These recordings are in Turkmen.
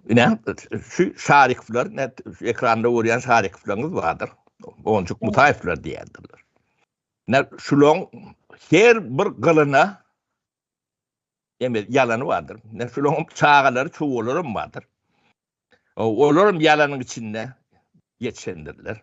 Ine, şu Şarikowlar, ne ekranda görýän Şarikowlaryňyz bardyr. Onjuk Mutaýewler diýýärdiler. Ne şulaň her bir gylyna emet ýalany bardyr. Ne şulaň çagalary, çowalary hem bardyr. Olar hem ýalanyň içinde geçendirler.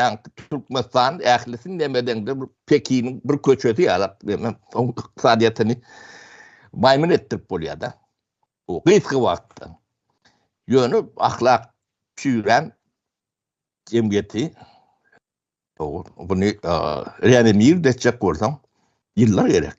Ýagny Türkmenistan ählisini nemedeňde Pekiniň bir köçesi ýalak diýmem, oň ykdysadyýetini maýmyn etdirip bolýar-da. Bu gysga wagtda. Ýöne ahlak çüýrän jemgyýeti buny reanimir etjek bolsaň ýyllar gerek.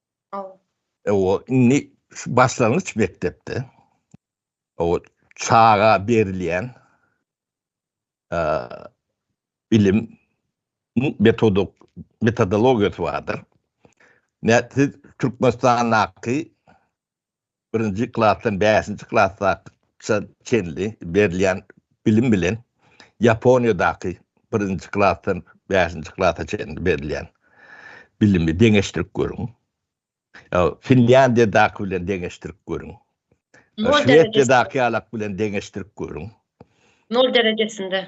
Oba indi şu başlangyç mekdepde oba çaga berilýän bilim metodyk metodologiýasy bardyr. Nätdi Türkmenistandaky birinji klasdan bäşinji klasgaça çenli berilýän bilim bilen Ýaponiýadaky birinji klasdan bäşinji klasa çenli berilýän bilimi deňeşdirip görüň. Finlýandiýadaky bilen deňeşdirip görüň. Şwesiýadaky ýalak bilen deňeşdirip görüň. Nol derejesinde.